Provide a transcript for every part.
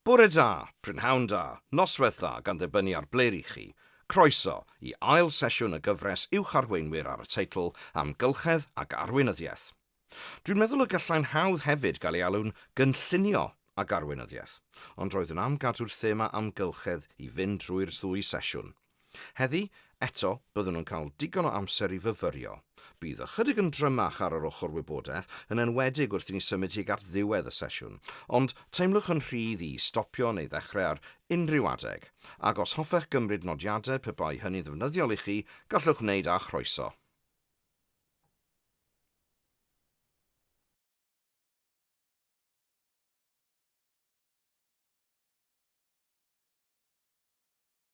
Bore da, prynhawn da, noswaith dda gan ddibynnu ar ble rŷch chi. Croeso i ail sesiwn y gyfres Uwch Arweinwyr ar y teitl Amgylchedd ac Arweinyddiaeth. Dwi'n meddwl y gallai'n hawdd hefyd gael ei alw'n Gynllunio ac Arweinyddiaeth, ond roeddwn am gadw'r thema Amgylchedd i fynd drwy'r ddwy sesiwn. Heddi, eto, byddwn yn cael digon o amser i fyfyrio. Bydd ychydig yn drymach ar yr ochr wybodaeth, yn enwedig wrth i ni symud tuag at ddiwedd y sesiwn, ond teimlwch yn rhydd i stopio neu ddechrau ar unrhyw adeg, ac os hoffech gymryd nodiadau pe bai hynny'n ddefnyddiol i chi, gallwch wneud â chroeso.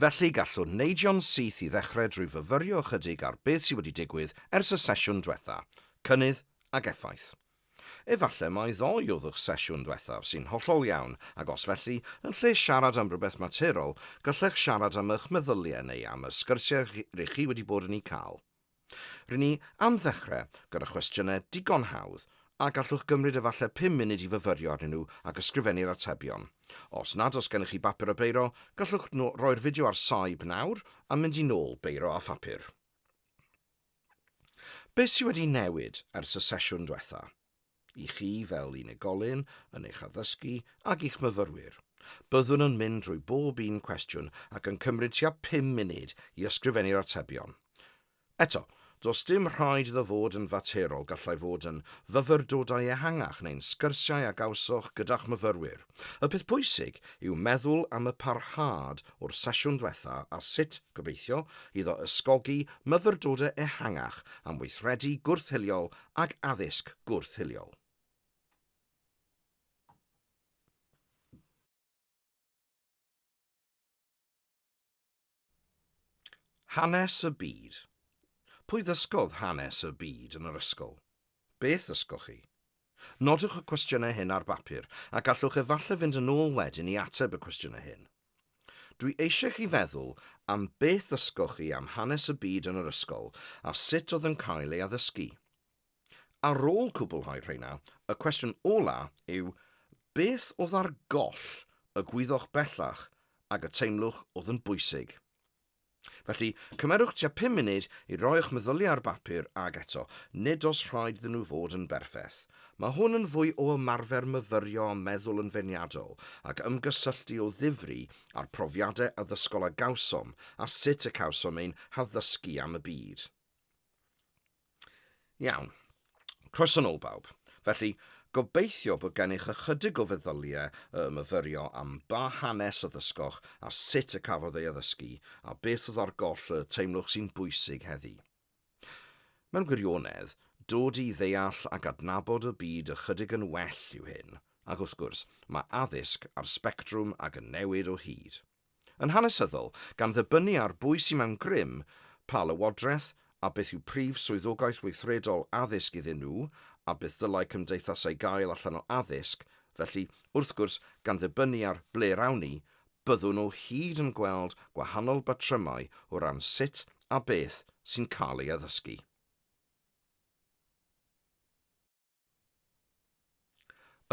Felly, gallwn neidio'n syth i ddechrau drwy fyfyrio ychydig ar beth sydd wedi digwydd ers y sesiwn dwetha, cynnydd ac effaith. Efallai mai ddoe oedd eich sesiwn dwethaf, sy'n hollol iawn, ac os felly, yn lle siarad am rywbeth materol, gallech siarad am eich meddyliau neu am y sgyrsiau r'ych chi wedi bod yn eu cael. Ry'n ni am ddechrau gyda chwestiynau digon hawdd a gallwch gymryd efallai pum munud i fyfyrio arnyn nhw ac ysgrifennu'r atebion. Os nad oes gennych chi bapur a beiro, gallwch roi'r fideo ar saib nawr a mynd i nôl beiro a phapur. Beth sydd wedi newid ers y sesiwn diwetha? I chi fel unigolyn, yn eich addysgu ac i'ch myfyrwyr. Byddwn yn mynd drwy bob un cwestiwn ac yn cymryd tua pum munud i ysgrifennu'r atebion. Eto, does dim rhaid iddo fod yn faterol, gallai fod yn fyfyrdodau ehangach neu'n sgyrsiau a gawsoch gyda'ch myfyrwyr. Y peth pwysig yw meddwl am y parhad o'r sesiwn dwetha a sut, gobeithio, iddo ysgogi myfyrdodau ehangach am weithredu gwrth-hiliol ac addysg gwrth-hiliol. Hanes y byd. Pwy ddysgodd hanes y byd yn yr ysgol? Beth ddysgoch chi? Nodwch y cwestiynau hyn ar bapur a gallwch efallai fynd yn ôl wedyn i ateb y cwestiynau hyn. Dwi eisiau chi feddwl am beth ddysgoch chi am hanes y byd yn yr ysgol a sut oedd yn cael ei addysgu. Ar ôl cwblhau rheina, y cwestiwn ola' yw beth oedd ar goll y gwyddoch bellach ag y teimlwch oedd yn bwysig? Felly, cymerwch tua pum munud i roi'ch meddyliau ar bapur, ac eto, nid oes rhaid iddyn nhw fod yn berffaith. Mae hwn yn fwy o ymarfer myfyrio a meddwl yn feirniadol, ac ymgysylltu o ddifri â'r profiadau addysgol a gawsom a sut y cawsom ein haddysgu am y byd. Iawn. Croeso nôl bawb. Felly, gobeithio bod gennych ychydig o feddyliau y myfyrio am ba hanes y ddysgoch a sut y cafodd ei addysgu a beth oedd ar goll y teimlwch sy'n bwysig heddi. Mewn gwirionedd, dod i ddeall ac adnabod y byd ychydig yn well yw hyn, ac wrth gwrs, mae addysg ar sbectrwm ac yn newid o hyd. Yn hanesyddol, gan ddibynnu ar bwy sy mewn grym, pa lywodraeth, a beth yw prif swyddogaeth weithredol addysg iddyn nhw, a beth ddylai cymdeithasau gael allan o addysg, felly, wrth gwrs, gan ddibynnu ar ble'r awn ni, byddwn o hyd yn gweld gwahanol batrymau o ran sut a beth sy'n cael ei addysgu.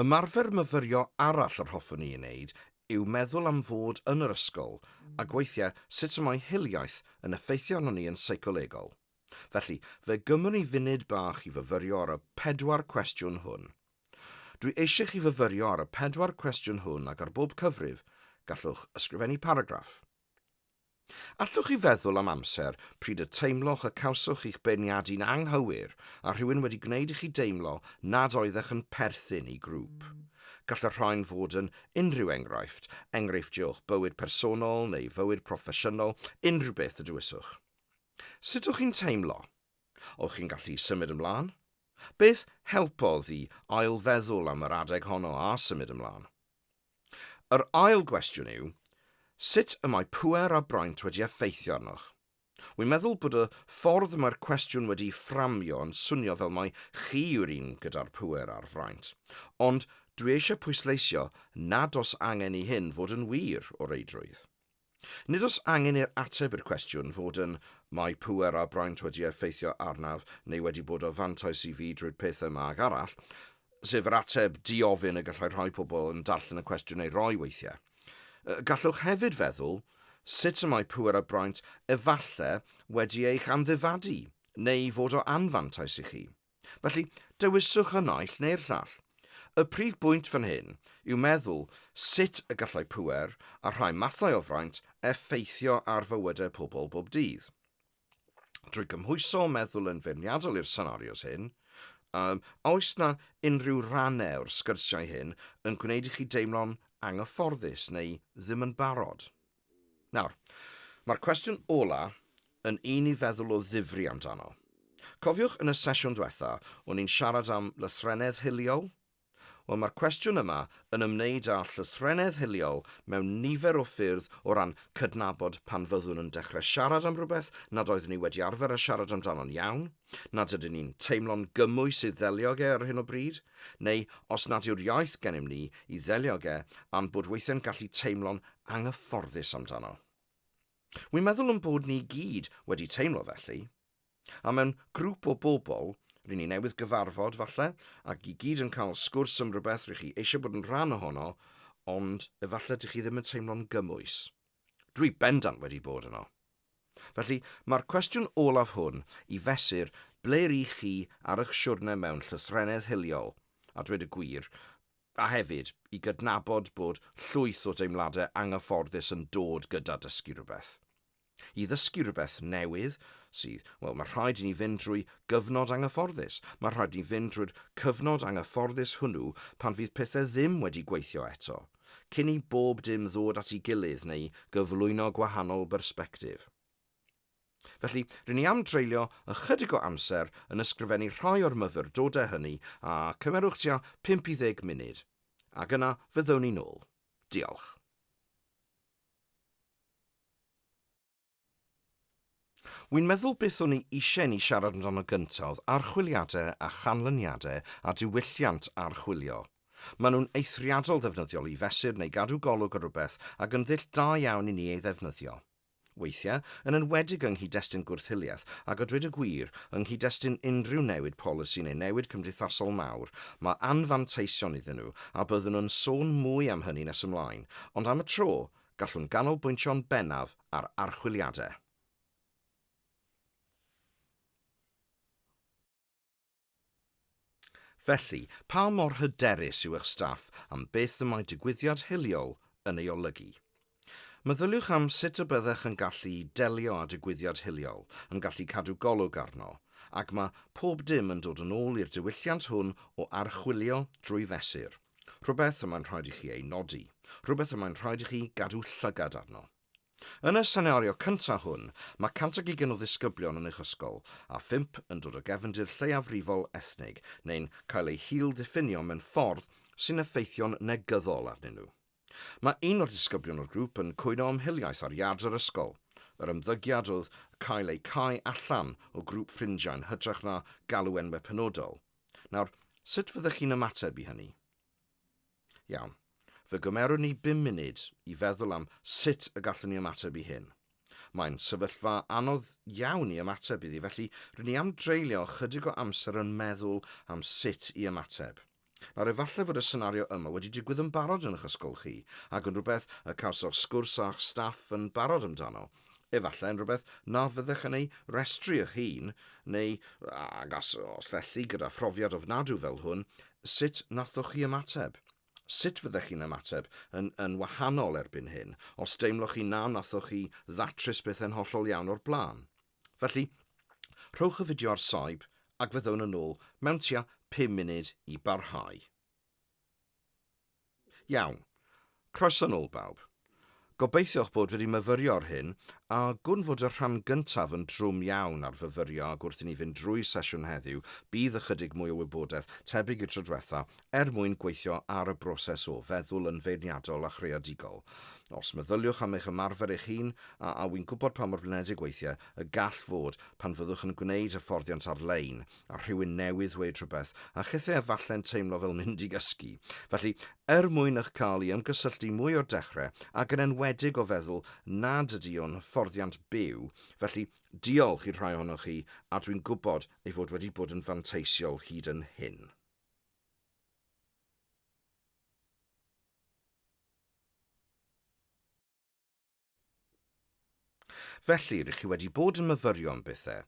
Ymarfer myfyrio arall yr hoffwn i ei wneud yw meddwl am fod yn yr ysgol, ac weithiau sut y mae hiliaeth yn effeithio arnon ni yn seicolegol. Felly, fe gymwn i funud bach i fyfyrio ar y pedwar cwestiwn hwn. Dwi eisiau chi fyfyrio ar y pedwar cwestiwn hwn ac ar bob cyfrif, gallwch ysgrifennu paragraff. Allwch chi feddwl am amser pryd y teimloch y cawsoch chi'ch beirniadu'n anghywir a rhywun wedi gwneud i chi deimlo nad oeddech yn perthyn i grŵp? Gall y rhain fod yn unrhyw enghraifft, enghreifftiau o'ch bywyd personol neu fywyd proffesiynol, unrhyw beth y dywyswch. Sut o'ch chi'n teimlo? O'ch chi'n gallu symud ymlaen? Beth helpodd i ail-feddwl am yr adeg honno a symud ymlaen? Yr ail gwestiwn yw, sut y mae pŵer a braint wedi effeithio arnoch? Wi'n meddwl bod y ffordd mae'r cwestiwn wedi'i fframio yn swnio fel mai chi yw'r un gyda'r pŵer a'r fraint, ond dwi eisiau pwysleisio nad oes angen i hyn fod yn wir, o reidrwydd. Nid oes angen i'r ateb i'r cwestiwn fod yn Mae pŵer a braint wedi effeithio arnaf neu wedi bod o fantais i fi drwy'r peth yma ac arall, sef yr ateb di-ofyn y gallai rhai pobl yn darllen y cwestiwn ei roi weithiau. Gallwch hefyd feddwl, Sut y mae pŵer a braint efallai wedi eich amddifadu neu fod o anfantais i chi? Felly, dewiswch y naill neu'r llall. Y prif bwynt fan hyn yw meddwl sut y gallai pŵer a rhai mathau o fraint effeithio ar fywydau pobl bob dydd. Drwy gymhwyso meddwl yn feirniadol i'r senarios hyn, um, oes na unrhyw rannau o'r sgyrsiau hyn yn gwneud i chi deimlo'n anghyfforddus neu ddim yn barod? Nawr, mae'r cwestiwn ola yn un i feddwl o ddifri amdano. Cofiwch yn y sesiwn dwetha, o'n i'n siarad am lythrennedd hiliol? Wel, mae'r cwestiwn yma yn ymwneud â llythrennedd hiliol mewn nifer o ffyrdd o ran cydnabod pan fyddwn yn dechrau siarad am rywbeth nad oeddwn ni wedi arfer â siarad amdano'n iawn, nad ydyn ni'n teimlo'n gymwys i ddelio ag e ar hyn o bryd, neu os nad yw'r iaith gennym ni i ddelio ag e a'n bod weithiau'n gallu teimlo'n anghyfforddus amdano. Wi'n meddwl yn bod ni gyd wedi teimlo felly, a mewn grŵp o bobl, rŷn ni newydd gyfarfod falle, ac i gyd yn cael sgwrs am rhywbeth rŷch chi eisiau bod yn rhan ohono, ond efallai dych chi ddim yn teimlo'n gymwys. Dwi bendant wedi bod yno. Felly, mae'r cwestiwn olaf hwn i fesur ble rŷch chi ar ych siwrne mewn llythrennedd hiliol, a dweud y gwir, a hefyd i gydnabod bod llwyth o deimladau anghyfforddus yn dod gyda dysgu rhywbeth. I ddysgu rhywbeth newydd sydd, wel, mae rhaid i ni fynd drwy gyfnod anghyfforddus. Mae rhaid i ni fynd drwy'r cyfnod anghyfforddus hwnnw pan fydd pethau ddim wedi gweithio eto, cyn i bob dim ddod at ei gilydd neu gyflwyno gwahanol bersbectif. Felly, rŷn ni am dreulio ychydig o amser yn ysgrifennu rhai o'r myfyrdodau hynny, a cymerwch tua pump i ddeg munud, ac yna fyddwn ni'n ôl. Diolch. Wi'n meddwl beth o'n i eisiau i ni siarad amdano gyntaf oedd archwiliadau a chanlyniadau a diwylliant archwilio. Maen nhw'n eithriadol ddefnyddiol i fesur neu gadw golwg ar rywbeth ac yn ddull da iawn i ni ei ddefnyddio. Weithiau, yn enwedig yng nghyd-destun gwrth-hiliaeth, ac a dweud y gwir, yng nghyd-destun unrhyw newid polisi neu newid cymdeithasol mawr, mae anfanteision iddyn nhw, a byddwn yn sôn mwy am hynny nes ymlaen, ond am y tro, gallwn ganolbwyntio'n bennaf ar archwiliadau. Felly, pa mor hyderus yw eich staff am beth y mae digwyddiad hiliol yn ei olygu? Meddyliwch am sut y byddech yn gallu delio â digwyddiad hiliol, yn gallu cadw golwg arno, ac mae pob dim yn dod yn ôl i'r diwylliant hwn o archwilio drwy fesur, rhywbeth y mae'n rhaid i chi ei nodi, rhywbeth y mae'n rhaid i chi gadw llygad arno. Yn y senario cyntaf hwn, mae 120 o ddisgyblion yn eich ysgol, a phump yn dod o gefndir lleiafrifol ethnig neu'n cael eu hil-ddiffinio mewn ffordd sy'n effeithio'n negyddol arnyn nhw. Mae un o'r disgyblion o'r grŵp yn cwyno am hiliaeth ar iard yr ysgol, yr ymddygiad oedd cael eu cau allan o grŵp ffrindiau yn hytrach na galw enwau penodol. Nawr, sut fyddech chi'n ymateb i hynny? Iawn. Fe gymerwn ni bum munud i feddwl am sut y gallwn ni ymateb i hyn. Mae'n sefyllfa anodd iawn i ymateb iddi, felly rŷn ni am dreulio ychydig o amser yn meddwl am sut i ymateb. Nawr, efallai fod y senario yma wedi digwydd yn barod yn eich ysgol chi, ac yn rhywbeth y cawsoch sgwrs â'ch staff yn barod amdano, efallai yn rhywbeth na fyddech yn ei restru eich hun, neu, ag as, os felly, gyda phrofiad ofnadw fel hwn, sut nathoch chi ymateb? Sut fyddech chi'n ymateb yn, yn wahanol erbyn hyn, os deimloch chi na nathoch chi ddatrys pethau'n hollol iawn o'r blaen? Felly, rhowch y fideo ar saib ac fyddwn yn ôl mewn tua pum munud i barhau. Iawn. Croeso nôl bawb. Gobeithio'ch bod wedi myfyrio ar hyn, a gwn fod y rhan gyntaf yn drwm iawn ar fyfyrio ac wrth i ni fynd drwy sesiwn heddiw bydd ychydig mwy o wybodaeth tebyg i'r tro dwetha er mwyn gweithio ar y broses o feddwl yn feirniadol a chreadigol. Os meddyliwch am eich ymarfer eich hun, a a wy'n gwybod pa mor flinedig weithiau y gall fod, pan fyddwch yn gwneud hyfforddiant ar-lein, a rhywun newydd ddweud rhywbeth, a chith e efalle'n teimlo fel mynd i gysgu. Felly, er mwyn eich cael i ymgysylltu mwy o'r dechrau, ac yn enwedig o feddwl nad ydy o'n hyfforddiant byw, felly, diolch i'r rhai ohonoch chi, a dwi'n gwybod ei fod wedi bod yn fanteisiol hyd yn hyn. Felly, rydych chi wedi bod yn myfyrio am bethau,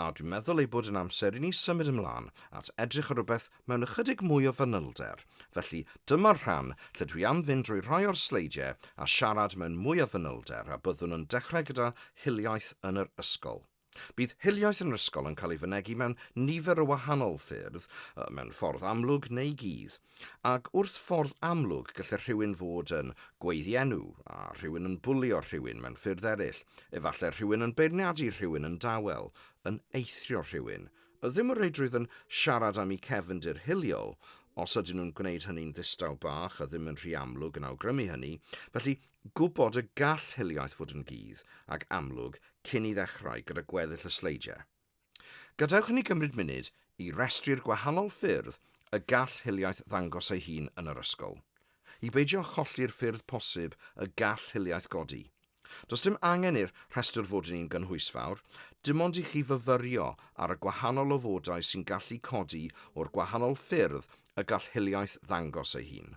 a dwi'n meddwl ei bod yn amser i ni symud ymlaen at edrych ar rhywbeth mewn ychydig mwy o fanylder, felly dyma'r rhan lle dwi am fynd drwy rhai o'r sleidiau a siarad mewn mwy o fanylder a byddwn yn dechrau gyda hiliaeth yn yr ysgol. Bydd hiliaeth yn yr ysgol yn cael ei fynegi mewn nifer o wahanol ffyrdd, mewn ffordd amlwg neu gudd, ac wrth ffordd amlwg gallai rhywun fod yn gweiddienw, a rhywun yn bwlio rhywun mewn ffyrdd eraill, efallai rhywun yn beirniadu rhywun yn dawel, yn eithrio rhywun. A ddim o reidrwydd yn siarad am eu cefndir hiliol, os ydyn nhw'n gwneud hynny'n ddistaw bach a ddim yn rhy amlwg yn awgrymu hynny, felly Gwybod y gall hiliaeth fod yn gudd ac amlwg cyn i ddechrau gyda gweddill y sleidiau. Gadewch i ni gymryd munud i restru'r gwahanol ffyrdd y gall hiliaeth ddangos ei hun yn yr ysgol. I beidio cholli'r ffyrdd posib y gall hiliaeth godi. Does dim angen i'r rhestr fod yn un gynhwysfawr, dim ond i chi fyfyrio ar y gwahanol ofodau sy'n gallu codi o'r gwahanol ffyrdd y gall hiliaeth ddangos ei hun.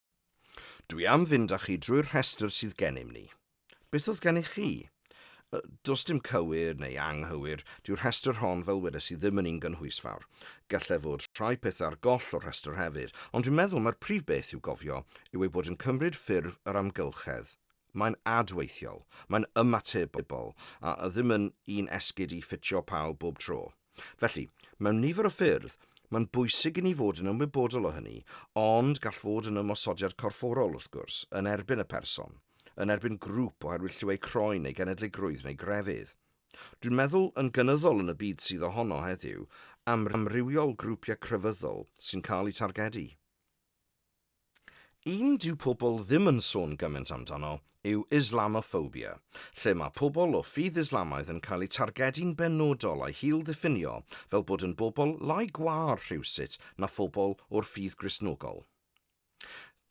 Dwi am fynd â chi drwy'r rhestr sydd gennym ni. Beth oedd gennych chi? Does dim cywir neu anghywir, dyw'r rhestr hon fel wedes i ddim yn un gynhwysfawr. Gallai fod rhai pethau ar goll o'r rhestr hefyd, ond dwi'n meddwl mai'r prif beth i'w gofio yw ei bod yn cymryd ffurf yr amgylchedd. Mae'n adweithiol, mae'n ymatebol, a ddim yn un esgid i ffitio pawb bob tro. Felly, mewn nifer o ffyrdd, mae'n bwysig i ni fod yn ymwybodol o hynny, ond gall fod yn ymosodiad corfforol, wrth gwrs, yn erbyn y person, yn erbyn grŵp oherwydd lliw eu croen neu genedligrwydd neu grefydd. Dwi'n meddwl, yn gynyddol yn y byd sydd ohono heddiw, am amrywiol grwpiau crefyddol sy'n cael eu targedu. Un dyw pobl ddim yn sôn gymaint amdano yw Islamophobia, lle mae pobl o ffydd Islamaidd yn cael eu targedu'n benodol a'u hil-ddiffinio fel bod yn bobl lai gwâr rhywsut na phobl o'r ffydd Gristnogol.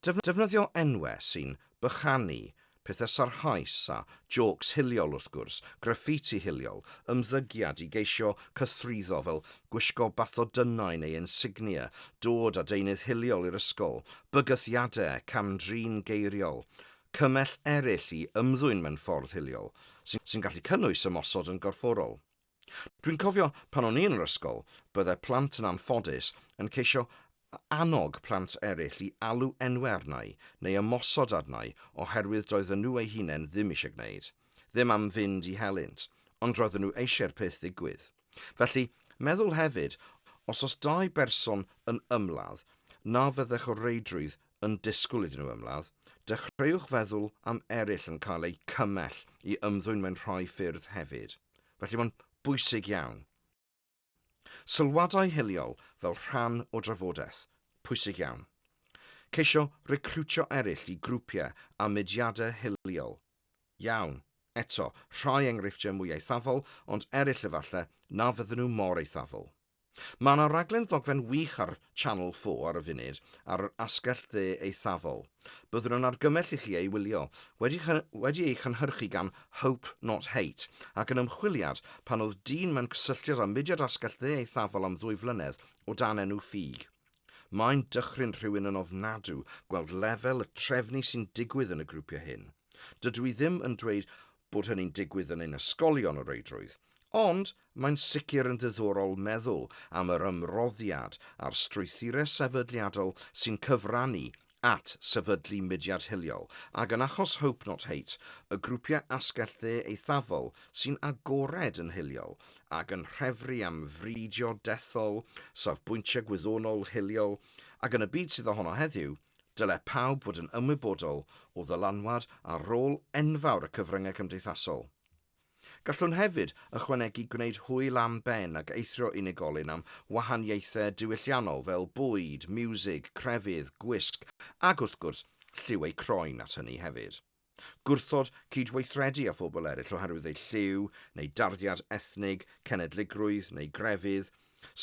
Defnyddio enwau sy'n bychanu Pethau sarhaus a jôcs hiliol wrth gwrs, graffiti hiliol, ymddygiad i geisio cythruddo fel gwisgo bathodynnau neu insignia, dod â deunydd hiliol i'r ysgol, bygythiadau, cam-drin geiriol, cymell eraill i ymddwyn mewn ffordd hiliol, sy'n gallu cynnwys ymosod yn gorfforol. Dwi'n cofio pan o'n i yn yr ysgol, byddai plant yn anffodus yn ceisio annog plant eraill i alw enwau arnau neu ymosod arnau oherwydd doedden nhw eu hunain ddim eisiau gwneud, ddim am fynd i helynt, ond roedden nhw eisiau'r peth ddigwydd. Felly, meddwl hefyd, os oes dau berson yn ymladd, na fyddech o reidrwydd yn disgwyl iddyn nhw ymladd, dechreuwch feddwl am eraill yn cael eu cymell i ymddwyn mewn rhai ffyrdd hefyd, felly mae'n bwysig iawn. Sylwadau hiliol fel rhan o drafodaeth, pwysig iawn. Ceisio recriwtio eraill i grwpiau a mudiadau hiliol, iawn, eto, rhai enghreifftiau mwy eithafol ond eraill efallai na fydden nhw mor eithafol. Mae yna raglen ddogfen wych ar Channel 4 ar y funud ar yr asgell dde eithafol. Byddwn yn argymell i chi ei wylio. Wedi, wedi ei chynhyrchu gan Hope Not Hate ac yn ymchwiliad pan oedd dyn mewn cysylltiad â mudiad asgell dde eithafol am ddwy flynedd o dan enw Ffug. Mae'n dychryn rhywun yn ofnadw gweld lefel y trefnu sy'n digwydd yn y grwpiau hyn. Dydw i ddim yn dweud bod hynny'n digwydd yn ein ysgolion o reidrwydd, ond mae'n sicr yn ddiddorol meddwl am yr ymroddiad a'r strwythurau sefydliadol sy'n cyfrannu at sefydlu mudiad hiliol, ac yn achos Hope Not Hate, y grwpiau asgell dde eithafol sy'n agored yn hiliol ac yn rhefru am fridio dethol, safbwyntiau gwyddonol hiliol, ac yn y byd sydd ohono heddiw, dylai pawb fod yn ymwybodol o ddylanwad a rôl enfawr y cyfryngau cymdeithasol. Gallwn hefyd ychwanegu gwneud hwyl am ben ac eithrio unigolyn am wahaniaethau diwylliannol fel bwyd, miwsig, crefydd, gwisg, ac wrth gwrs, lliw eu croen at hynny hefyd. Gwrthod cydweithredu â phobl eraill oherwydd eu lliw, neu darddiad ethnig, cenedligrwydd, neu grefydd,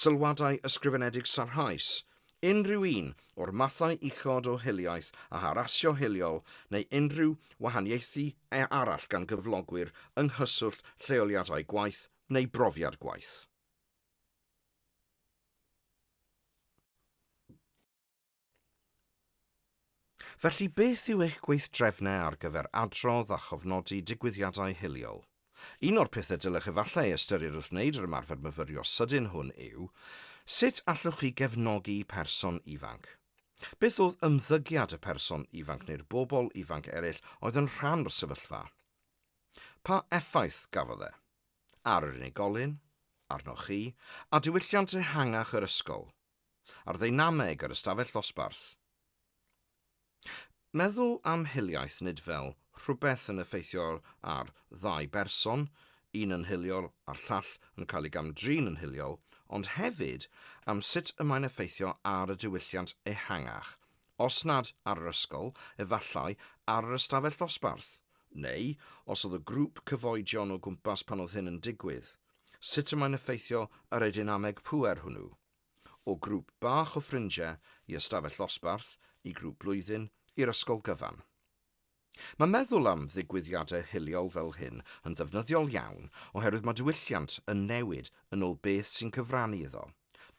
Sylwadau ysgrifenedig Sarhaus unrhyw un o'r mathau uchod o hiliaeth a harasio hiliol neu unrhyw wahaniaethu arall gan gyflogwyr yng nghyswllt lleoliadau gwaith neu brofiad gwaith. Felly, beth yw eich gweithdrefnau ar gyfer adrodd a chofnodi digwyddiadau hiliol? Un o'r pethau dylech efallai ei ystyried wrth wneud yr ymarfer myfyrio sydyn hwn yw, sut allwch chi gefnogi person ifanc? Beth oedd ymddygiad y person ifanc neu'r bobl ifanc eraill oedd yn rhan o'r sefyllfa? Pa effaith gafodd e? Ar yr unigolyn? Arnoch chi? A diwylliant ehangach yr ysgol? a'r ddeinameg yr ystafell ddosbarth. Meddwl am hiliaeth nid fel rhywbeth yn effeithio ar ddau berson, un yn hiliol a'r llall yn cael ei gam-drin yn hiliol, ond hefyd am sut y mae'n effeithio ar y diwylliant ehangach, os nad ar yr ysgol, efallai ar yr ystafell ddosbarth, neu os oedd y grŵp cyfoedion o gwmpas pan oedd hyn yn digwydd. Sut y mae'n effeithio ar y deinameg pŵer hwnnw, o grŵp bach o ffrindiau i ystafell ddosbarth, i grŵp blwyddyn, i'r ysgol gyfan. Mae meddwl am ddigwyddiadau hiliol fel hyn yn ddefnyddiol iawn oherwydd mae diwylliant yn newid yn ôl beth sy'n cyfrannu iddo,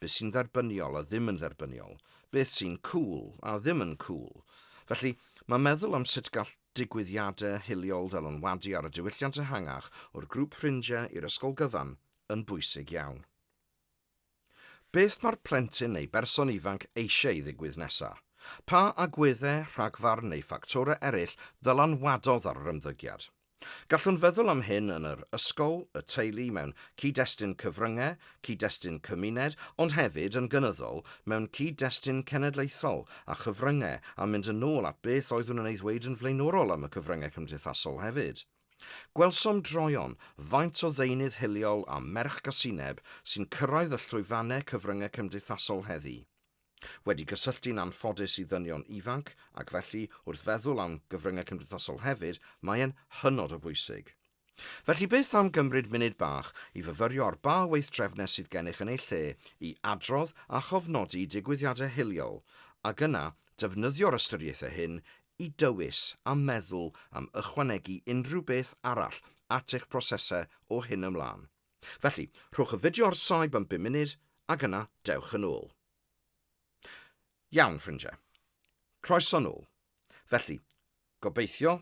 beth sy'n dderbyniol a ddim yn dderbyniol, beth sy'n 'cŵl' a ddim yn 'cŵl'. Felly, mae meddwl am sut gall Digwyddiadau hiliol fel yn wadu ar y diwylliant ehangach o'r grŵp ffrindiau i'r ysgol gyfan yn bwysig iawn. Beth mae'r plentyn neu berson ifanc eisiau i ddigwydd nesaf? Pa agweddau, rhagfarn neu ffactorau eraill ddylanwadodd ar yr ymddygiad? Gallwn feddwl am hyn yn yr ysgol, y teulu, mewn cyd-destun cyfryngau, cyd-destun cymuned, ond hefyd yn gynyddol mewn cyd-destun cenedlaethol a chyfryngau a mynd yn ôl at beth oeddwn yn ei ddweud yn flaenorol am y cyfryngau cymdeithasol hefyd. Gwelsom droeon faint o ddeunydd hiliol a merch gasineb sy'n cyrraedd y llwyfannau cyfryngau cymdeithasol heddi. Wedi cysylltu'n anffodus i ddynion ifanc ac felly wrth feddwl am gyfryngau cymdeithasol hefyd, mae e'n hynod o bwysig. Felly beth am gymryd munud bach i fyfyrio'r ba weithdrefnau sydd gennych yn eu lle i adrodd a chofnodi digwyddiadau hiliol, ac yna defnyddio'r ystyriaethau hyn i dywys a meddwl am ychwanegu unrhyw beth arall at eich prosesau o hyn ymlaen. Felly, rhowch y fideo ar saib am bum munud, ac yna dewch yn ôl. Iawn, ffrindiau. Croeso nôl. Felly, gobeithio,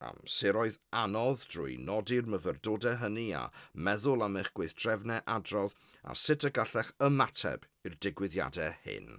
amseroedd anodd drwy nodi'r myfyrdodau hynny a meddwl am eich gweithdrefnau adrodd a sut y gallech ymateb i'r digwyddiadau hyn.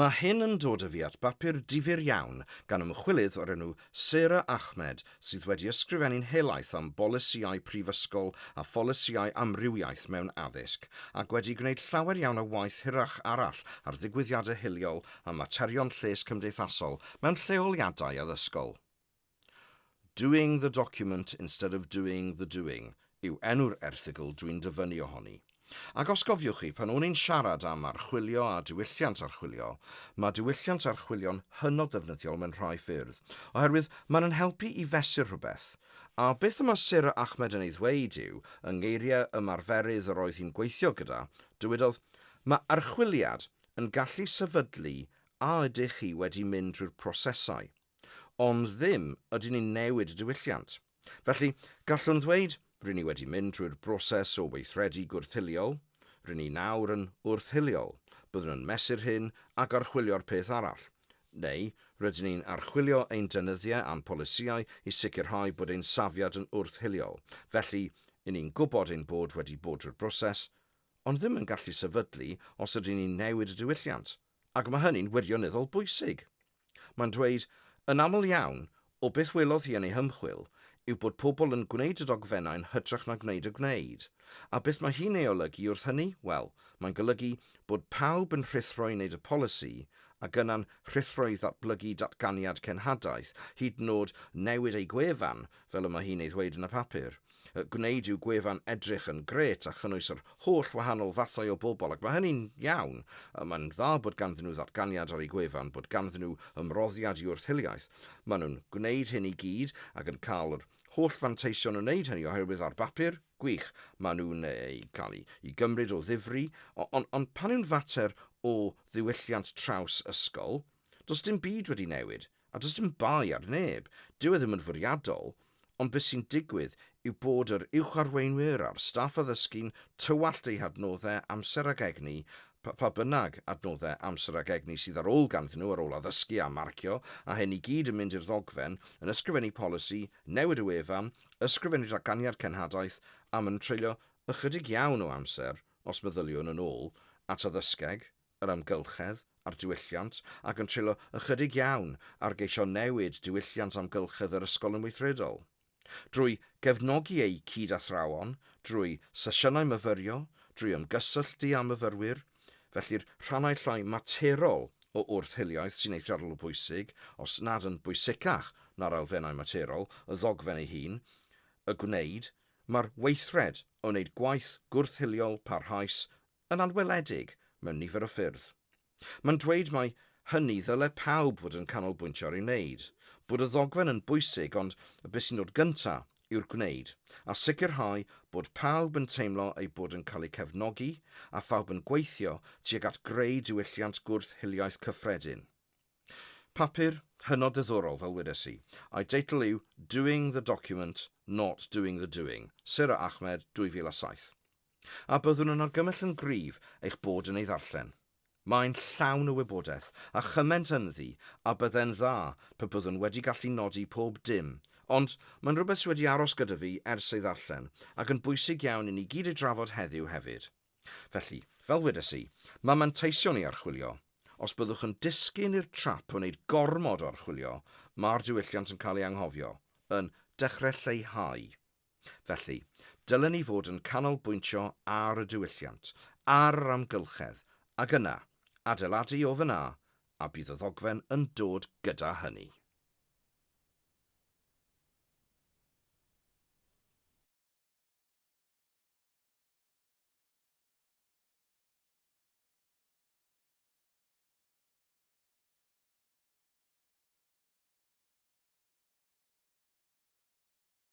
Mae hyn yn dod â fi at bapur difyr iawn gan ymchwilydd o'r enw Sarah Ahmed sydd wedi ysgrifennu'n helaeth am bolisïau prifysgol a pholisïau amrywiaeth mewn addysg ac wedi gwneud llawer iawn o waith hirach arall ar ddigwyddiadau hiliol a materion lles cymdeithasol mewn lleoliadau addysgol. Doing the document instead of doing the doing yw enw'r erthygl dwi'n dyfynnu ohoni. Ac os cofiwch chi, pan o'n i'n siarad am archwilio a diwylliant archwilio, mae diwylliant archwilio'n hynod ddefnyddiol mewn rhai ffyrdd, oherwydd mae'n yn helpu i fesur rhywbeth. A beth y mae Sir Ahmed yn ei ddweud yw, yng ngeiriau ymarferydd yr oedd hi'n gweithio gyda, dywedodd, Mae archwiliad yn gallu sefydlu a ydych chi wedi mynd drwy'r prosesau. Ond ddim ydyn ni'n newid y diwylliant. Felly, gallwn ddweud, ry'n ni wedi mynd trwy'r broses o weithredu gwrth-hiliol, ry'n ni nawr yn wrth-hiliol, byddwn yn mesur hyn ac archwilio'r peth arall, neu rydyn ni'n archwilio ein deunyddiau a'n polisïau i sicrhau bod ein safiad yn wrth-hiliol, felly, y'n ni'n gwybod ein bod wedi bod drwy'r broses, ond ddim yn gallu sefydlu os ydyn ni'n newid y diwylliant. Ac mae hynny'n wirioneddol bwysig. Mae'n dweud, yn aml iawn, o beth welodd hi yn ei hymchwil, yw bod pobl yn gwneud y dogfennau yn hytrach na gwneud y gwneud. A beth mae hi'n ei olygu wrth hynny? Wel, mae'n golygu bod pawb yn rhuthro i wneud y polisi, ac yna'n rhuthro i ddatblygu datganiad cenhadaeth, hyd yn oed newid eu gwefan, fel y mae hi'n ei ddweud yn y papur. y gwneud i'w gwefan edrych yn grêt a chynnwys yr holl wahanol fathau o bobl, ac mae hynny'n iawn. Mae'n dda bod ganddyn nhw ddatganiad ar eu gwefan, bod ganddyn nhw ymroddiad i wrth-hiliaeth. Maen nhw'n gwneud hyn i gyd ac yn cael yr holl fanteision o wneud hynny oherwydd ar bapur, gwych, maen nhw'n eu cael i i gymryd o ddifri, ond ond pan yw'n fater o ddiwylliant traws ysgol, does dim byd wedi newid. A does dim bai ar neb, dyw e ddim yn fwriadol, ond be sy'n digwydd yw bod yr uwch-arweinwyr a'r staff addysgu'n tywallt eu hadnoddau amser ag egni, pa, pa bynnag adnoddau amser ag egni sydd ar ôl ganddyn nhw ar ôl addysgu a marcio, a hyn i gyd yn mynd i'r ddogfen, yn ysgrifennu polisi, newid y wefan, ysgrifennu datganiad cenhadaeth, a maen nhw'n treulio ychydig iawn o amser, os meddyliwn yn ôl at addysgeg. yr amgylchedd a'r diwylliant ac yn treulio ychydig iawn ar geisio newid diwylliant amgylchedd yr ysgol yn weithredol. Drwy gefnogi eu cyd-athrawon, drwy sesiynau myfyrio, drwy ymgysylltu â myfyrwyr, felly'r rhannau llai materol o wrth-hiliaeth sy'n eithriadol o bwysig, os nad yn bwysicach na'r elfennau materol, y ddogfen ei hun, y gwneud, mae'r weithred o wneud gwaith gwrth-hiliol parhaus yn anweledig mewn nifer o ffyrdd. Mae'n dweud mai hynny ddyle pawb fod yn canolbwyntio ar ei wneud, bod y ddogfen yn bwysig ond be sy'n dod gyntaf yw'r gwneud, a sicrhau bod pawb yn teimlo eu bod yn cael eu cefnogi a phawb yn gweithio tuag at greu diwylliant gwrth hiliaeth cyffredin. Papur hynod ddiddorol fel wedes i, a'i deitl yw Doing the Document, Not Doing the Doing, Sarah Ahmed, 2007. A byddwn yn argymell yn gryf eich bod yn ei ddarllen. Mae'n llawn o wybodaeth a chyment ynddi a byddai'n dda pe byddwn wedi gallu nodi pob dim, ond mae'n rhywbeth sy' wedi aros gyda fi ers ei ddarllen ac yn bwysig iawn i ni gyd ei drafod heddiw hefyd. Felly, fel wedes i, mae manteision i archwilio. Os byddwch yn disgyn i'r trap o wneud gormod o archwilio, mae'r diwylliant yn cael ei anghofio, yn dechre lleihau. Felly, dylen ni fod yn canolbwyntio ar y diwylliant, ar yr amgylchedd, ac yna, adeiladu o fan'na, a bydd y ddogfen yn dod gyda hynny.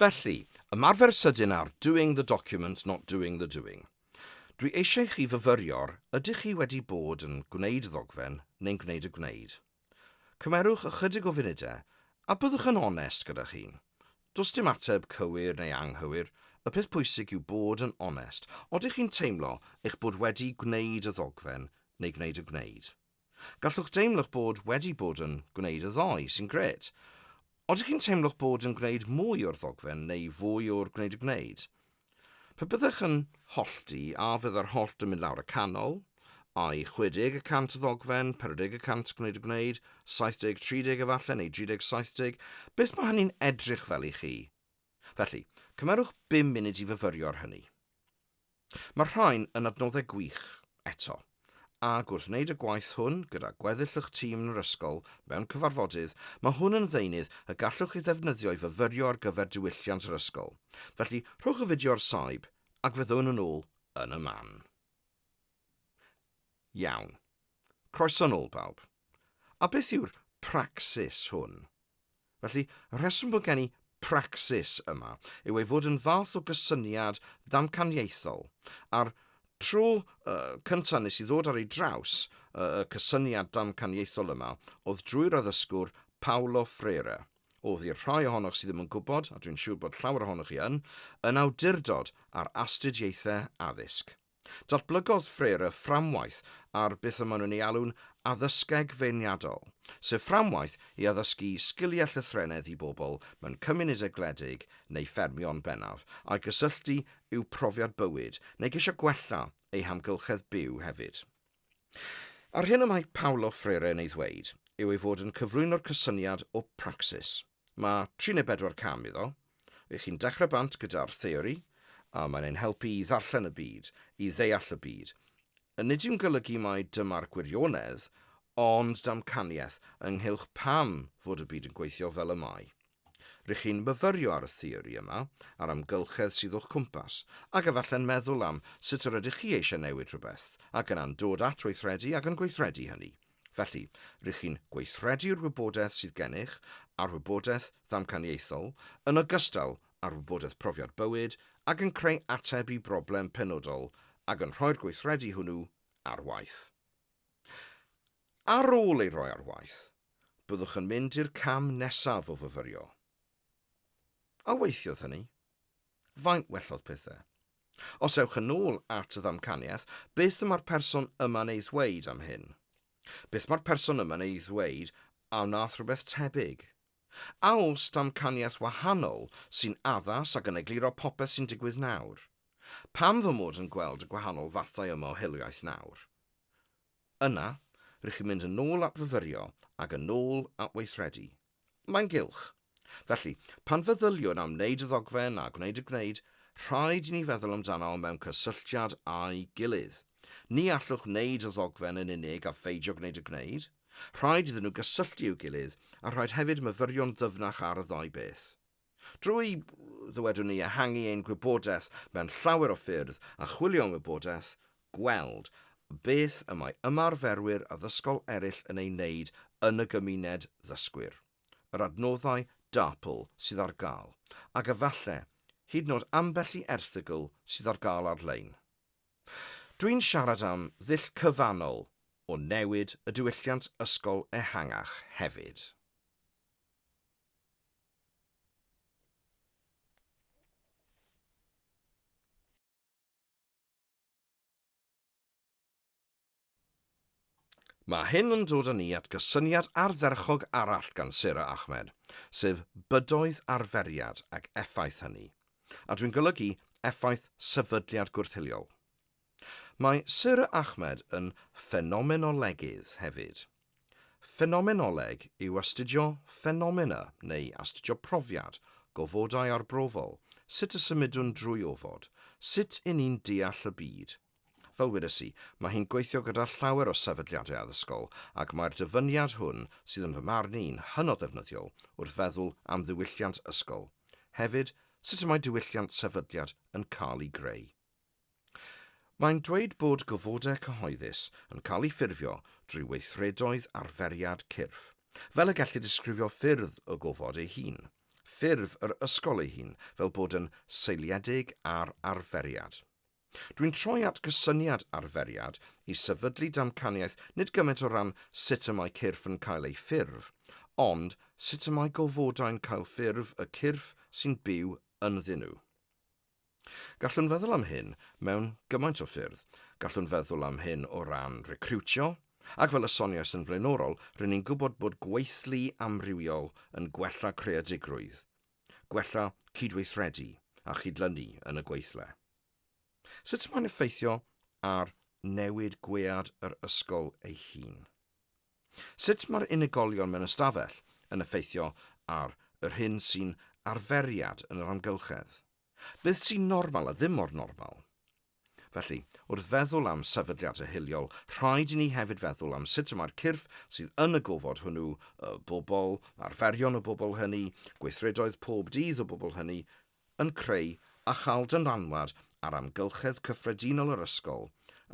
Felly, ymarfer sydyn ar 'doing the document, not doing the doing'. Dwi eisiau chi fyfyrio'r ydych chi wedi bod yn gwneud y ddogfen neu'n gwneud y gwneud. Cymerwch ychydig o funudau a byddwch yn onest gyda'ch hun. Does dim ateb cywir neu anghywir, y peth pwysig yw bod yn onest. Odych chi'n teimlo eich bod wedi gwneud y ddogfen neu gwneud y gwneud? Gallwch deimlo'ch bod wedi bod yn gwneud y ddoe, sy'n grêt. Odych chi'n teimlo'ch bod yn gwneud mwy o'r ddogfen neu fwy o'r gwneud y gwneud? Pe byddech yn hollti, a fydda'r hollt yn mynd lawr y canol? Ai 60 y cant ddogfen, 40 y cant gwneud y gwneud, 70, 30 efallai, neu 30, 70? Beth mae hynny'n edrych fel i chi? Felly, cymerwch bum munud i fyfyrio ar hynny. Mae'r rhain yn adnoddau gwych, eto, ac wrth wneud y gwaith hwn gyda gweddill y'ch tîm yn yr ysgol mewn cyfarfodydd, mae hwn yn ddeunydd y gallwch ei ddefnyddio i fyfyrio ar gyfer diwylliant yr ysgol. Felly, rhowch y fideo ar saib, ac fyddwn yn ôl yn y man. Iawn. Croeso nôl, bawb. A beth yw'r pracsis hwn? Felly, y rheswm bod gen i pracsis yma yw ei fod yn fath o gysyniad ddamcaniaethol, a'r tro uh, cyntaf nes i ddod ar ei draws uh, y cysyniad damcaniaethol yma oedd drwy'r addysgwr Paulo Freire, oedd i'r rhai ohonoch sydd ddim yn gwybod, a dwi'n siŵr bod llawer ohonoch chi yn, yn awdurdod ar astudiaethau addysg. Datblygodd Frere fframwaith ar beth y maen nhw'n ei alw'n 'addysgeg feirniadol', sef fframwaith i addysgu sgiliau llythrennedd i bobl mewn cymunedau gwledig neu ffermio'n bennaf, a'i gysylltu i'w profiad bywyd neu geisio gwella eu hamgylchedd byw hefyd. A'r hyn y mae Paolo Frere yn ei ddweud yw ei fod yn cyflwyno'r cysyniad o 'praxis'. Mae tri neu bedwar cam iddo. Ych chi'n dechrau bant gyda'r theori, a mae'n ein helpu i ddarllen y byd, i ddeall y byd. A nid yw'n golygu mai dyma'r gwirionedd, ond damcaniaeth ynghylch pam fod y byd yn gweithio fel y mae. R'ych chi'n myfyrio ar y theori yma, a'r amgylchedd sydd o'ch cwmpas, ac efalle'n meddwl am sut yr ydych chi eisiau newid rhywbeth, ac yna'n dod at weithredu ac yn gweithredu hynny. Felly, rŷch chi'n gweithredu'r wybodaeth sydd gennych a'r wybodaeth ddamcaniaethol, yn ogystal â'r wybodaeth profiad bywyd, ac yn creu ateb i broblem penodol ac yn rhoi'r gweithredu hwnnw ar waith. Ar ôl ei roi ar waith, byddwch yn mynd i'r cam nesaf o fyfyrio. A weithiodd hynny? Faint wellodd pethau? Os ewch yn ôl at y ddamcaniaeth, beth mae'r person yma'n ei ddweud am hyn? Beth mae'r person yma'n ei ddweud a wnaeth rhywbeth tebyg? A oes damcaniaeth wahanol sy'n addas ac yn egluro popeth sy'n digwydd nawr? Pam fy mod yn gweld y gwahanol fathau yma o hiliaeth nawr? Yna, rŷch chi'n mynd yn ôl at fyfyrio ac yn ôl at weithredu. Mae'n gylch. Felly, pan feddyliwn am wneud y ddogfen a gwneud y gwneud, rhaid i ni feddwl amdano mewn cysylltiad â'i gilydd. Ni allwch wneud y ddogfen yn unig a pheidio gwneud y gwneud. Rhaid iddyn nhw gysylltu i'w gilydd, a rhaid hefyd myfyrio'n ddyfnach ar y ddau beth. Drwy, ddywedwn ni, ehangu ein gwybodaeth mewn llawer o ffyrdd a chwilio am wybodaeth, gweld beth y mae ymarferwyr addysgol eraill yn ei wneud yn y gymuned ddysgwyr, yr adnoddau DARPL sydd ar gael, ac efallai, hyd yn oed ambell i erthygl sydd ar gael ar-lein. Dwi'n siarad am ddull cyfannol o newid y diwylliant ysgol ehangach hefyd. Mae hyn yn dod â ni at gysyniad ardderchog arall gan Sarah Ahmed, sef bydoedd arferiad ac effaith hynny, a dwi'n golygu effaith sefydliad gwrthiliol. Mae Sir Ahmed yn ffenomenolegydd hefyd. Ffenomenoleg yw astudio ffenomena neu astudio profiad, gofodau arbrofol, sut y symudwn drwy ofod, sut i ni'n deall y byd. Fel wedes i, mae hi'n gweithio gyda llawer o sefydliadau addysgol ac mae'r dyfyniad hwn sydd yn fy marn i'n hynod ddefnyddiol wrth feddwl am ddiwylliant ysgol, hefyd sut y mae diwylliant sefydliad yn cael ei greu. Mae'n dweud bod gofodau cyhoeddus yn cael eu ffurfio drwy weithredoedd arferiad cyrff, fel y gellir disgrifio ffyrdd y gofod ei hun, ffurf yr ysgol ei hun fel bod yn seiliedig ar arferiad. Dwi'n troi at gysyniad arferiad i sefydlu damcaniaeth nid gymaint o ran sut y mae cyrff yn cael eu ffurf, ond sut y mae gofodau'n cael ffurf y cyrff sy'n byw ynddyn nhw. Gallwn feddwl am hyn mewn gymaint o ffyrdd. Gallwn feddwl am hyn o ran recriwtio, ac fel y soniais yn flaenorol, rŷn ni'n gwybod bod gweithlu amrywiol yn gwella creadigrwydd, gwella cydweithredu a chydlynu yn y gweithle. Sut mae'n effeithio ar newid gwead yr ysgol ei hun? Sut mae'r unigolion mewn ystafell yn effeithio ar yr hyn sy'n arferiad yn yr amgylchedd? Beth sy'n normal a ddim mor normal? Felly, wrth feddwl am sefydliadau hiliol, rhaid i ni hefyd feddwl am sut y mae'r cyrff sydd yn y gofod hwnnw, y bobl, arferion y bobl hynny, gweithredoedd pob dydd y bobl hynny, yn creu a chael dylanwad ar amgylchedd cyffredinol yr ysgol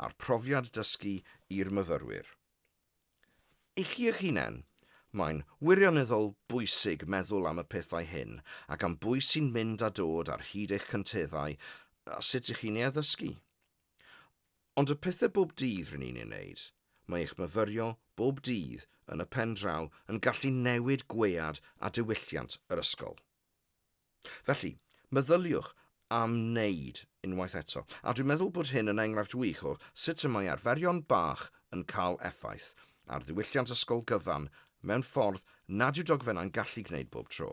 a'r profiad dysgu i'r myfyrwyr. I chi eich hunain. Mae'n wirioneddol bwysig meddwl am y pethau hyn ac am bwy sy'n mynd a dod ar hyd eich cynteddau a sut ych chi'n ei addysgu. Ond y pethau bob dydd rŷn ni'n eu wneud, mae eich myfyrio bob dydd yn y pen draw yn gallu newid gwead a diwylliant yr ysgol. Felly, meddyliwch am wneud unwaith eto, a dwi'n meddwl bod hyn yn enghraifft wych o sut y mae arferion bach yn cael effaith ar ddiwylliant ysgol gyfan mewn ffordd nad yw dogfennau'n gallu gwneud bob tro.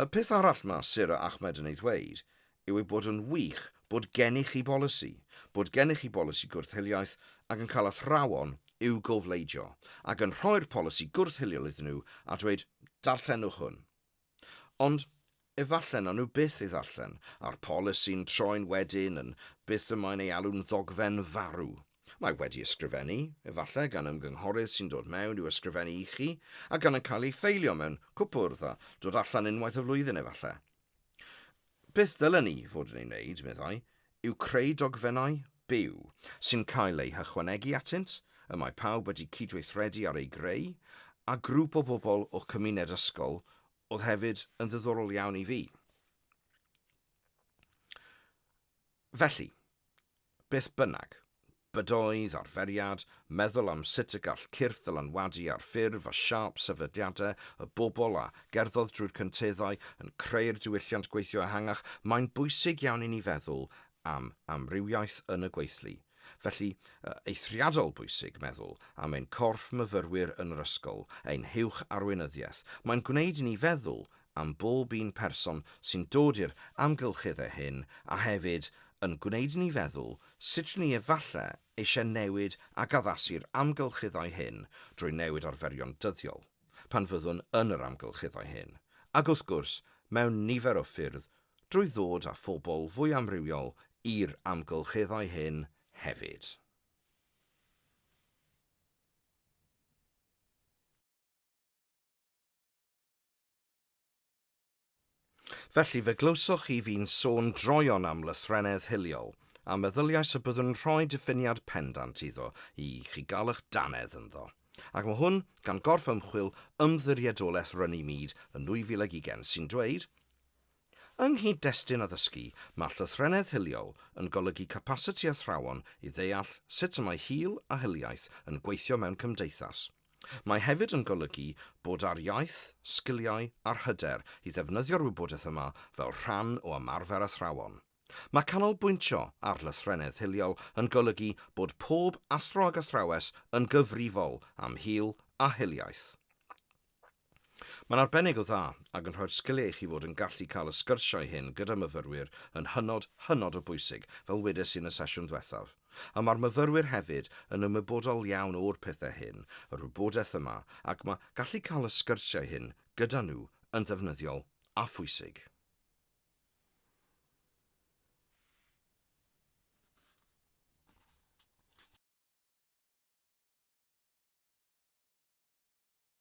Y peth arall mae Sarah Ahmed yn ei ddweud yw ei bod yn wych bod gennych chi bolisi, bod gennych chi bolisi gwrth-hiliaeth ac yn cael athrawon i'w gofleidio ac yn rhoi'r polisi gwrth-hiliol iddyn nhw a dweud, 'darllenwch hwn'. Ond efallai nawn nhw byth ei ddarllen, a'r polisi'n troi'n wedyn yn beth y mae'n ei alw'n ddogfen farw. Mae wedi ysgrifennu, efallai gan ymgynghorydd sy'n dod mewn i'w ysgrifennu i chi, a gan yn cael ei ffeilio mewn cwpwrdd a dod allan unwaith y flwyddyn efallai. Beth ddylen ni fod yn ei wneud, meddai, yw creu dogfennau byw sy'n cael eu hychwanegu atynt, y mae pawb wedi cydweithredu ar eu greu, a grŵp o bobl o cymuned ysgol oedd hefyd yn ddiddorol iawn i fi. Felly, Beth bynnag, bydoedd arferiad, meddwl am sut y gall cyrff ddylanwadu ar ffurf a siâp sefydliadau y bobl a gerddodd drwy'r cynteddau yn creu'r diwylliant gweithio ehangach, mae'n bwysig iawn i ni feddwl am amrywiaeth yn y gweithlu. Felly, eithriadol bwysig meddwl am ein corff myfyrwyr yn yr ysgol, ein huwch arweinyddiaeth. Mae'n gwneud i ni feddwl am bob un person sy'n dod i'r amgylchedd â hyn a hefyd yn gwneud i ni feddwl sut rŷn ni efallai eisiau newid ac addasu'r amgylcheddau hyn drwy newid arferion dyddiol pan fyddwn yn yr amgylcheddau hyn, ac wrth gwrs mewn nifer o ffyrdd drwy ddod â phobl fwy amrywiol i'r amgylcheddau hyn hefyd. Felly, fe glywsoch chi fi'n sôn droeon am lythrennedd hiliol, a meddyliais y byddwn yn rhoi diffiniad pendant iddo i chi gael eich dannedd ynddo. Ac mae hwn gan gorff ymchwil Ymddiriedolaeth Runnymede yn 2020 sy'n dweud, Yng nghyd-destun addysgu, mae llythrennedd hiliol yn golygu capasiti athrawon i ddeall sut y mae hil a hiliaeth yn gweithio mewn cymdeithas. Mae hefyd yn golygu bod â'r iaith, sgiliau a'r hyder i ddefnyddio'r wybodaeth yma fel rhan o ymarfer athrawon. Mae canolbwyntio ar lythrennedd hiliol yn golygu bod pob athro ac athrawes yn gyfrifol am hil a hiliaeth. Mae'n arbennig o dda ac yn rhoi'r sgiliau i chi fod yn gallu cael y sgyrsiau hyn gyda myfyrwyr yn hynod, hynod o bwysig, fel wedes i yn y sesiwn dwethaf. A mae'r myfyrwyr hefyd yn ymwybodol iawn o'r pethau hyn, yr wybodaeth yma, ac mae gallu cael y sgyrsiau hyn gyda nhw yn ddefnyddiol a phwysig.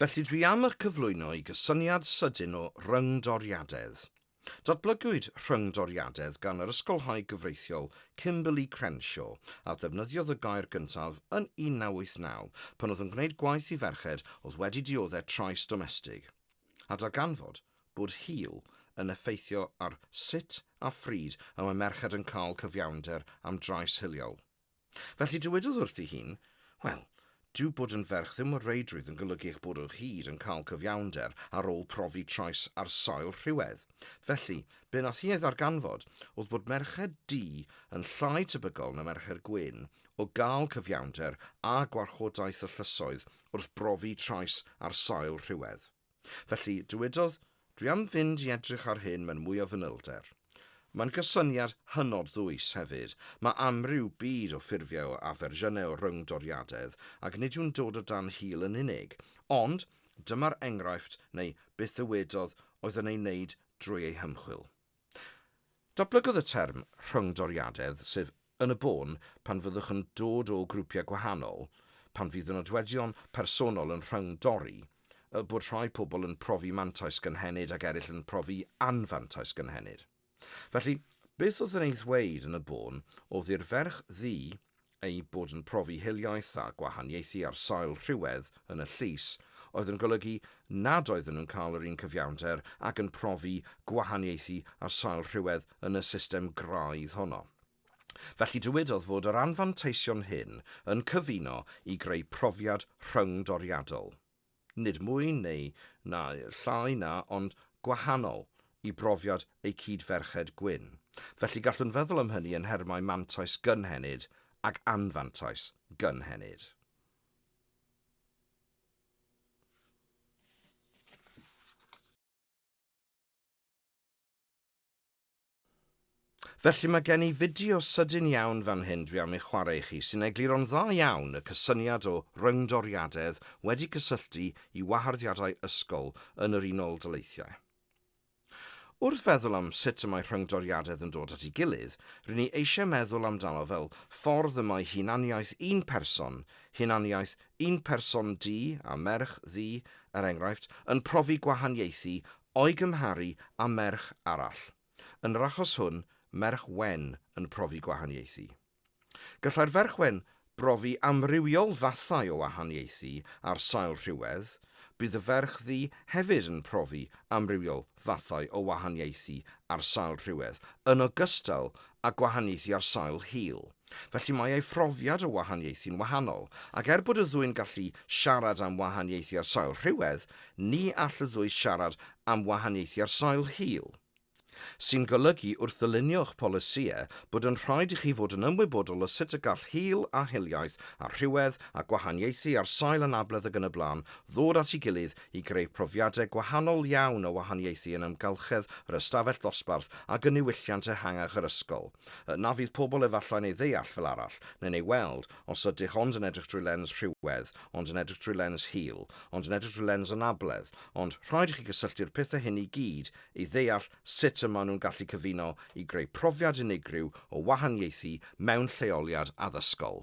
Felly dwi am eich cyflwyno i gysyniad sydyn o ryngdoriadedd. Datblygwyd rhyngdoriadedd gan yr ysgolhaig gyfreithiol Kimberly Crenshaw, a ddefnyddiodd y gair gyntaf yn 1989 pan oedd yn gwneud gwaith i ferched oedd wedi dioddef trais domestig, a darganfod bod hil yn effeithio ar sut a phryd y mae merched yn cael cyfiawnder am drais hiliol. Felly dywedodd wrthi hi, Wel, dyw bod yn ferch ddim o reidrwydd yn golygu eich bod o hyd yn cael cyfiawnder ar ôl profi trais ar sail rhywedd. Felly, be wnaeth hi ei ddarganfod oedd bod merched du yn llai tebygol na merched gwyn o gael cyfiawnder â gwarchodaeth y llysoedd wrth brofi trais ar sail rhywedd. Felly, dywedodd, Dwi am fynd i edrych ar hyn mewn mwy o fanylder. Mae'n gysyniad hynod ddwys hefyd, mae amryw byd o ffurfiau o a fersiynau o ryngdoriadedd ac nid yw'n dod o dan hil yn unig, ond dyma'r enghraifft neu byth ddywedodd oedd yn ei wneud drwy ei hymchwil. Datblygodd y term 'rhyngdoriadedd' sef yn y bôn pan fyddwch yn dod o grwpiau gwahanol, pan fydd y nodweddion personol yn rhyngdori, y bod rhai pobl yn profi mantais gynhenid ac eraill yn profi anfantais gynhenid. Felly, beth oedd yn ei ddweud yn y bôn oedd i'r ferch ddu eu bod yn profi hiliaeth a gwahaniaethu ar sail rhywedd yn y llys, oedd yn golygu nad oedden nhw'n cael yr un cyfiawnder ag yn profi gwahaniaethu ar sail rhywedd yn y system graidd honno. Felly dywedodd fod yr anfanteision hyn yn cyfuno i greu profiad rhyngdoriadol. nid mwy neu na llai na, ond gwahanol i brofiad eu cyd-ferched gwyn, felly gallwn feddwl am hynny yn nhermau mantais gynhenid ac anfantais gynhenid. Felly mae gen i fideo sydyn iawn fan hyn dwi am ei chwarae i chi sy'n egluro'n dda iawn y cysyniad o ryngdoriadedd wedi cysylltu i waharddiadau ysgol yn yr Unol Daleithiau. Wrth feddwl am sut y mae rhyngdoriadedd yn dod at ei gilydd, rŷn ni eisiau meddwl amdano fel ffordd y mae hunaniaeth un person, hunaniaeth un person du a merch ddu, er enghraifft, yn profi gwahaniaethu o'i gymharu â merch arall, yn yr achos hwn, merch wen yn profi gwahaniaethu. Gallai'r ferch wen brofi amrywiol fathau o wahaniaethu ar sail rhywedd, bydd y ferch ddu hefyd yn profi amrywiol fathau o wahaniaethu ar sail rhywedd, yn ogystal â gwahaniaethu ar sail hil. Felly mae ei phrofiad o wahaniaethu'n wahanol, ac er bod y ddwy'n gallu siarad am wahaniaethu ar sail rhywedd, ni all y ddwy siarad am wahaniaethu ar sail hil. Sy'n golygu, wrth ddylunio'ch polisïau, bod yn rhaid i chi fod yn ymwybodol o sut y gall hil a hiliaeth a rhywedd a gwahaniaethu ar sail anabledd ac yn y blaen ddod at ei gilydd i greu profiadau gwahanol iawn o wahaniaethu yn amgylchedd yr ystafell ddosbarth ac yn niwylliant ehangach yr ysgol. Na fydd pobl efallai'n ei ddeall fel arall, neu'n ei weld, os ydych ond yn edrych drwy lens rhywedd, ond yn edrych drwy lens hil, ond yn edrych drwy lens anabledd, ond rhaid i chi gysylltu'r pethau hyn i gyd i ddeall sut y maen nhw'n gallu cyfuno i greu profiad unigryw o wahaniaethu mewn lleoliad addysgol.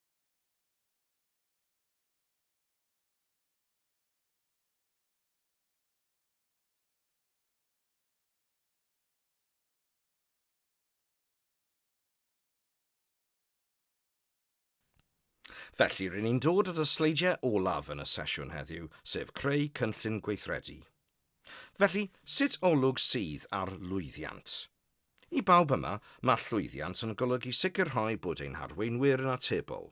Felly, rydyn ni'n dod at y sleidiau olaf yn y sesiwn heddiw, sef creu cynllun gweithredu. Felly, sut olwg sydd ar lwyddiant? I bawb yma, mae llwyddiant yn golygu sicrhau bod ein harweinwyr yn atebol.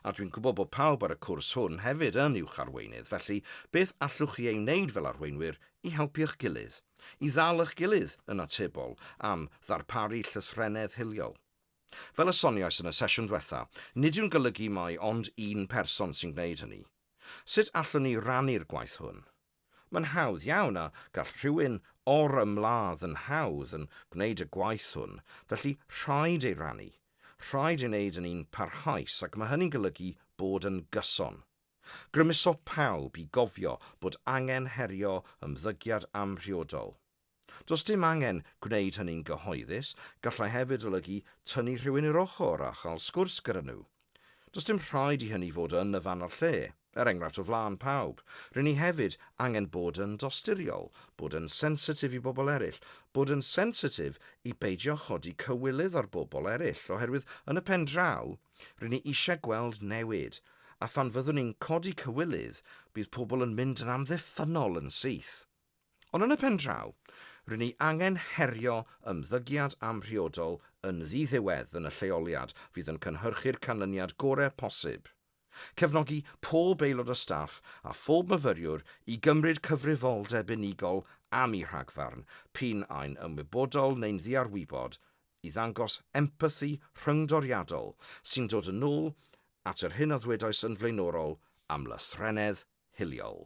A dwi'n gwybod bod pawb ar y cwrs hwn hefyd yn uwch arweinydd, felly beth allwch chi ei wneud fel arweinwyr i helpu'ch gilydd, i ddal eich gilydd yn atebol am ddarparu llythrennedd hiliol? Fel y soniais yn y sesiwn ddiwetha', nid yw'n golygu mai ond un person sy'n gwneud hynny. Sut allwn ni rannu'r gwaith hwn? Mae'n hawdd iawn a gall rhywun o'r ymladd yn hawdd yn gwneud y gwaith hwn, felly rhaid ei rannu. Rhaid ei wneud yn un parhaus ac mae hynny'n golygu bod yn gyson. Grymuso pawb i gofio bod angen herio ymddygiad amhriodol. Does dim angen gwneud hynny'n gyhoeddus, gallai hefyd olygu tynnu rhywun i'r ochr a chael sgwrs gyda nhw. Does dim rhaid i hynny fod yn y fan a'r lle, er enghraifft o flaen pawb, ry'n ni hefyd angen bod yn dosturiol, bod yn sensitif i bobl eraill, bod yn sensitif i beidio chodi cywilydd ar bobl eraill oherwydd yn y pen draw, ry'n ni eisiau gweld newid, a phan fyddwn ni'n codi cywilydd bydd pobl yn mynd yn amddiffynnol yn syth. Ond yn y pen draw, rŷn ni angen herio ymddygiad amhriodol yn ddiddiwedd yn y lleoliad fydd yn cynhyrchu'r canlyniad gorau posib, cefnogi pob aelod o staff a phob myfyriwr i gymryd cyfrifoldeb unigol am eu rhagfarn, p'un ai'n ymwybodol neu'n ddiarwybod, i ddangos empathi rhyngdoriadol sy'n dod yn ôl at yr hyn a ddwedais yn flaenorol am lythrennedd hiliol.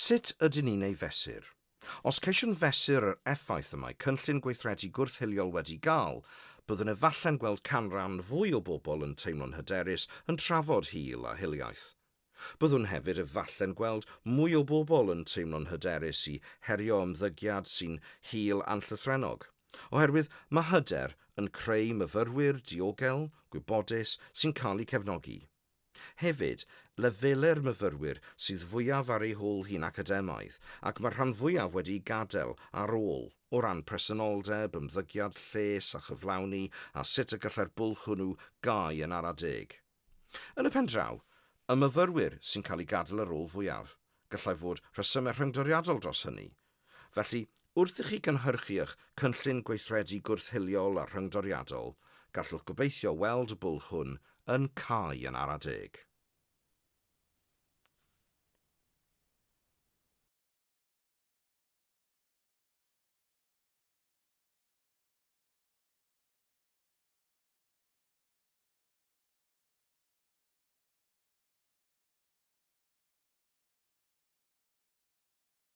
Sut ydyn ni'n ei fesur? Os ceisiwn fesur yr effaith y mae cynllun gweithredu gwrth-hiliol wedi gael, byddwn efallai'n gweld canran fwy o bobl yn teimlo'n hyderus yn trafod hil a hiliaeth. Byddwn hefyd efallai'n gweld mwy o bobl yn teimlo'n hyderus i herio ymddygiad sy'n hil a'n llythrennog, oherwydd mae hyder yn creu myfyrwyr diogel, gwybodus, sy'n cael eu cefnogi. Hefyd, lefelau'r myfyrwyr sydd fwyaf ar eu hôl hi'n academaidd, ac mae'r rhan fwyaf wedi'u gadael ar ôl, o ran presenoldeb, ymddygiad, lles a chyflawni, a sut y gallai'r bwlch hwnnw gau yn ara deg. Yn y pen draw, y myfyrwyr sy'n cael eu gadael ar ôl fwyaf, gallai fod rhesymau rhyngdoriadol dros hynny, Felly, wrth i chi gynhyrchu eich Cynllun Gweithredu Gwrth-hiliol a Rhyngdoriadol, gallwch gobeithio weld y bwlch hwn yn cau yn ara deg.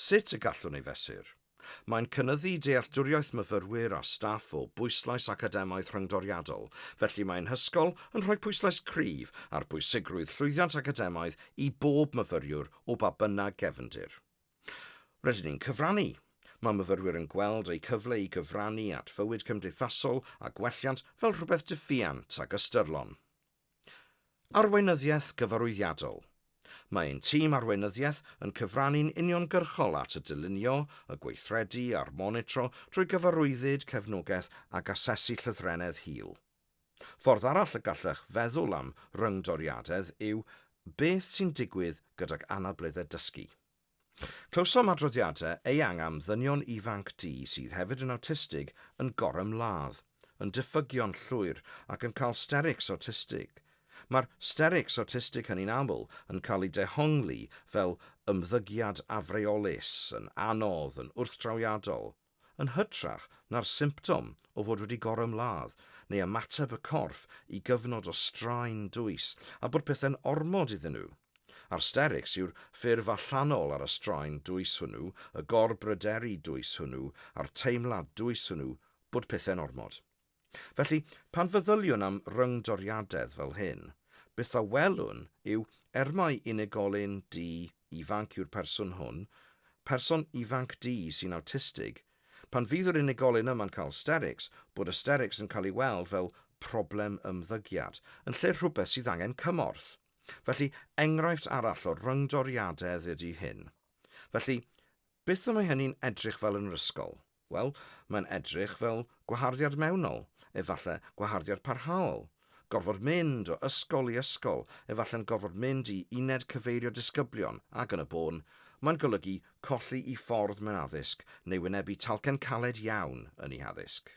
Sut y gallwn ei fesur? Mae'n cynyddu dealltwriaeth myfyrwyr a staff o bwyslais academaidd rhyngdoriadol, felly mae'n hysgol yn rhoi pwyslais cryf ar bwysigrwydd llwyddiant academaidd i bob myfyriwr o ba bynnag gefndir. Rydyn ni'n cyfrannu. Mae myfyrwyr yn gweld eu cyfle i gyfrannu at fywyd cymdeithasol a gwelliant fel rhywbeth diffuant ac ystyrlon. Arweinyddiaeth gyfarwyddiadol. Mae ein tîm arweinyddiaeth yn cyfrannu'n uniongyrchol at y dylunio, y gweithredu a'r monitro drwy gyfarwyddyd, cefnogaeth ac asesu llythrennedd hil. Ffordd arall y gallech feddwl am ryngdoriadedd yw beth sy'n digwydd gydag anableddau dysgu. Clywsom adroddiadau eang am ddynion ifanc du sydd hefyd yn awtistig yn gorymladd, yn diffygion llwyr ac yn cael sterics awtistig. Mae'r sterics awtistig hynny'n aml yn cael eu dehongli fel ymddygiad afreolus, yn anodd, yn wrthdrawiadol. yn hytrach na'r symptom o fod wedi gorymladd neu ymateb y corff i gyfnod o straen dwys a bod pethau'n ormod iddyn nhw. Arsterics yw'r ffurf allanol ar y straen dwys hwnnw, y gorbryderu dwys hwnnw a'r teimlad dwys hwnnw bod pethau'n ormod. Felly, pan feddyliwn am ryngdoriadedd fel hyn, beth a welwn yw, er mai unigolyn du ifanc yw'r person hwn, person ifanc du sy'n awtistig, pan fydd yr unigolyn yma'n cael ysterics, bod ysterics yn cael ei weld fel problem ymddygiad, yn lle rhywbeth sydd angen cymorth. Felly, enghraifft arall o ryngdoriadedd ydy hyn. Felly, beth y mae hynny'n edrych fel yn yr ysgol? Wel, mae'n edrych fel gwaharddiad mewnol, efallai gwaharddiad parhaol, gorfod mynd o ysgol i ysgol, efallai'n gorfod mynd i uned cyfeirio disgyblion, ac yn y bôn, mae'n golygu colli'i ffordd mewn addysg neu wynebu talcen caled iawn yn ei haddysg.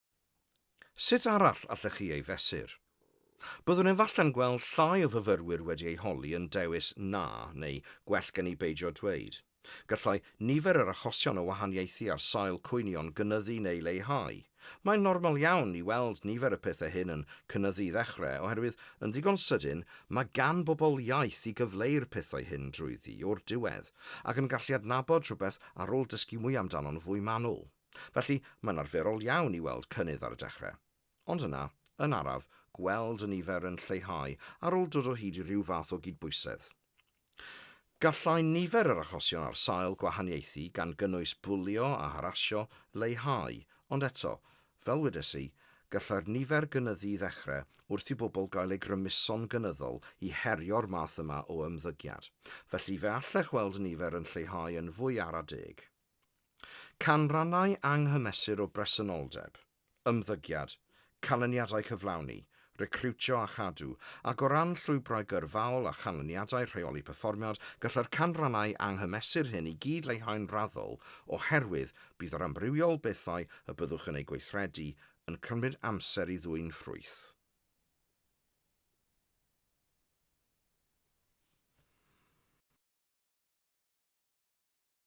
Sut arall allech chi ei fesur? Byddwn efallai'n gweld llai o fyfyrwyr wedi eu holi yn dewis 'na' neu 'gwell gen i beidio dweud'. Gallai nifer yr achosion o wahaniaethu ar sail cwynion gynyddu neu leihau. Mae'n normal iawn i weld nifer y pethau hyn yn cynyddu i ddechrau oherwydd yn ddigon sydyn mae gan bobl iaith i gyfleu'r pethau hyn drwyddi o'r diwedd ac yn gallu adnabod rhywbeth ar ôl dysgu mwy amdano'n fwy manwl. Felly, mae'n arferol iawn i weld cynnydd ar y dechrau. Ond yna, yn araf, gweld y nifer yn lleihau ar ôl dod o hyd i ryw fath o gydbwysedd. Gallai nifer yr achosion ar sail gwahaniaethu, gan gynnwys bwlio a harasio, leihau, ond eto, fel wedes i, gallai'r nifer gynyddu i ddechrau wrth i bobl gael eu grymuso'n gynyddol i herio'r math yma o ymddygiad. Felly, fe allech weld y nifer yn lleihau yn fwy ara deg. Canrannau anghymesur o bresenoldeb, ymddygiad, canlyniadau cyflawni, recriwtio a chadw, ac o ran llwybrau gyrfaol a chanlyniadau rheoli perfformiad, gallai'r canrannau anghymesur hyn i gyd leihau'n raddol oherwydd bydd yr amrywiol bethau y byddwch yn eu gweithredu yn cymryd amser i ddwyn ffrwyth.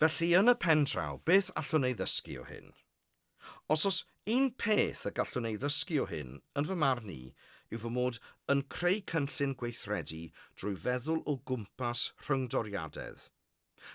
Felly yn y pen draw, beth allwn ei ddysgu o hyn? Os oes un peth y gallwn ei ddysgu o hyn, yn fy marn i, yw fy mod yn creu cynllun gweithredu drwy feddwl o gwmpas rhyngdoriadedd.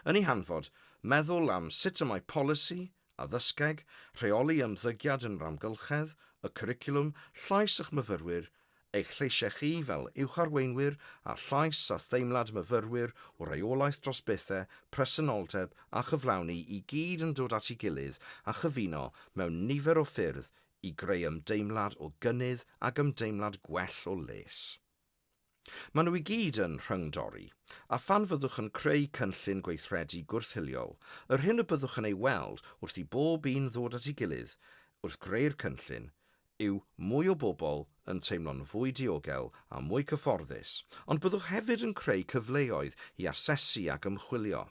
Yn ei hanfod, meddwl am sut y mae polisi addysgeg, rheoli ymddygiad yn yr amgylchedd, y cwricwlwm, llais eich myfyrwyr, eich lleisiau chi fel uwcharweinwyr a llais a theimlad myfyrwyr o reolaeth dros bethau, presenoldeb a chyflawni i gyd yn dod at ei gilydd a chyfuno mewn nifer o ffyrdd i greu ymdeimlad o gynnydd ag ymdeimlad gwell o les. Maen nhw i gyd yn rhyng-dori, a phan fyddwch yn creu cynllun gweithredu gwrth-hiliol, yr hyn y byddwch yn ei weld wrth i bob un ddod at ei gilydd wrth greu'r cynllun yw mwy o bobl yn teimlo'n fwy diogel a mwy cyfforddus, ond byddwch hefyd yn creu cyfleoedd i asesu ac ymchwilio.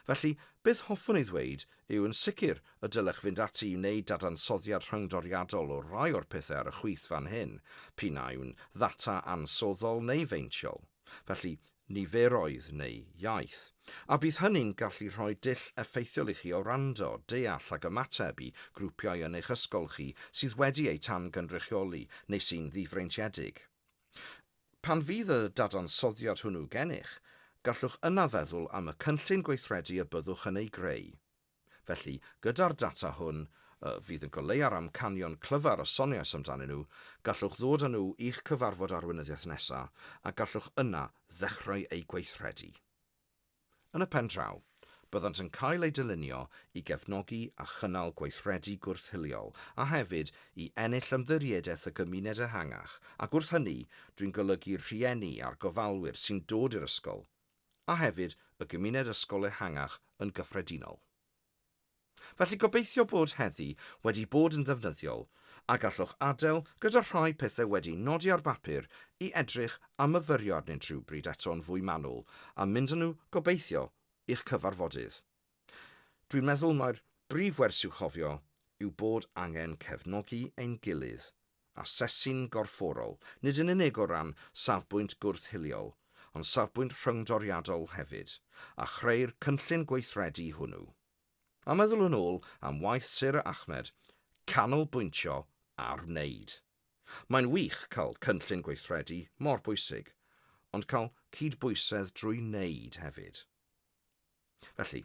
Felly, beth hoffwn ei ddweud yw yn sicr y dylech fynd ati i wneud dadansoddiad rhyngdoriadol o rai o'r pethau ar y chwith fan hyn, p'un a yw'n ddata ansoddol neu feintiol, felly niferoedd neu iaith, a bydd hynny'n gallu rhoi dull effeithiol i chi o wrando, deall ac ymateb i grwpiau yn eich ysgol chi sydd wedi eu tan-gynrychioli neu sy'n ddifreintiedig. Pan fydd y dadansoddiad hwnnw gennych, gallwch yna feddwl am y cynllun gweithredu y byddwch yn ei greu. Felly, gyda'r data hwn, y fydd yn goleua'r amcanion clyfar y soniais amdanyn nhw, gallwch ddod â nhw i'ch cyfarfod arweinyddiaeth nesaf a gallwch yna ddechrau eu gweithredu. Yn y pen draw, byddant yn cael eu dylunio i gefnogi a chynnal gweithredu gwrth-hiliol a hefyd i ennill ymddiriedaeth y gymuned ehangach ac wrth hynny dwi'n golygu'r rhieni a'r gofalwyr sy'n dod i'r ysgol a hefyd y gymuned ysgol ehangach yn gyffredinol. Felly gobeithio bod heddi wedi bod yn ddefnyddiol a gallwch adael gyda rhai pethau wedi nodi ar bapur i edrych a myfyrio arnynt rhywbryd eto'n fwy manwl a mynd â nhw gobeithio i'ch cyfarfodydd. Dwi'n meddwl mai'r brif wers i'w chofio yw bod angen cefnogi ein gilydd Asesu'n gorfforol, nid yn unig o ran safbwynt gwrth-hiliol, ond safbwynt rhyngdoriadol hefyd, a chreu'r cynllun gweithredu hwnnw. A meddwl yn ôl am waith Sarah Ahmed, canolbwyntio ar wneud. Mae'n wych cael cynllun gweithredu mor bwysig, ond cael cydbwysedd drwy wneud hefyd. Felly,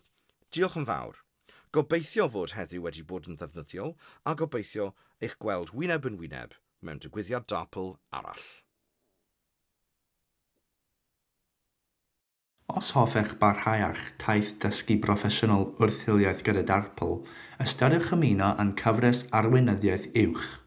diolch yn fawr. Gobeithio fod heddiw wedi bod yn ddefnyddiol a gobeithio eich gweld wyneb yn wyneb mewn digwyddiad DARPL arall. Os hoffech barhau â'ch taith dysgu broffesiynol wrth hiliaeth gyda DARPL, ystyriwch ymuno â'n cyfres Arweinyddiaeth Uwch.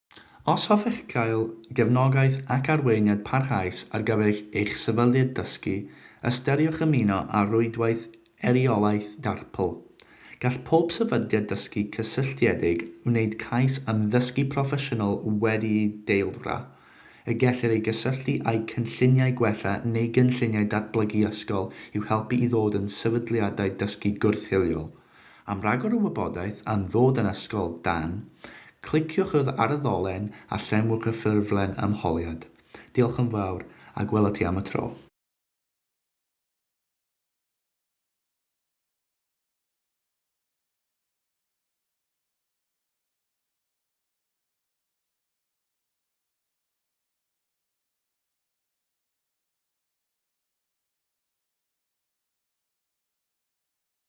Os hoffech gael gefnogaeth ac arweiniad parhaus ar gyfer eich sefydliad dysgu, ystyriwch ymuno â Rhwydwaith Eiriolaeth Darpl. Gall pob sefydliad dysgu cysylltiedig wneud cais am ddysgu proffesiynol wedi'i deilwra, y gellir ei gysylltu â'u cynlluniau gwella neu gynlluniau datblygu ysgol i'w helpu i ddod yn sefydliadau dysgu gwrth-hiliol. Am ragor o wybodaeth am ddod yn Ysgol Dan, cliciwch yr ar y ddolen a llenwch y ffurflen ymholiad. Diolch yn fawr, a gwela ti am y tro.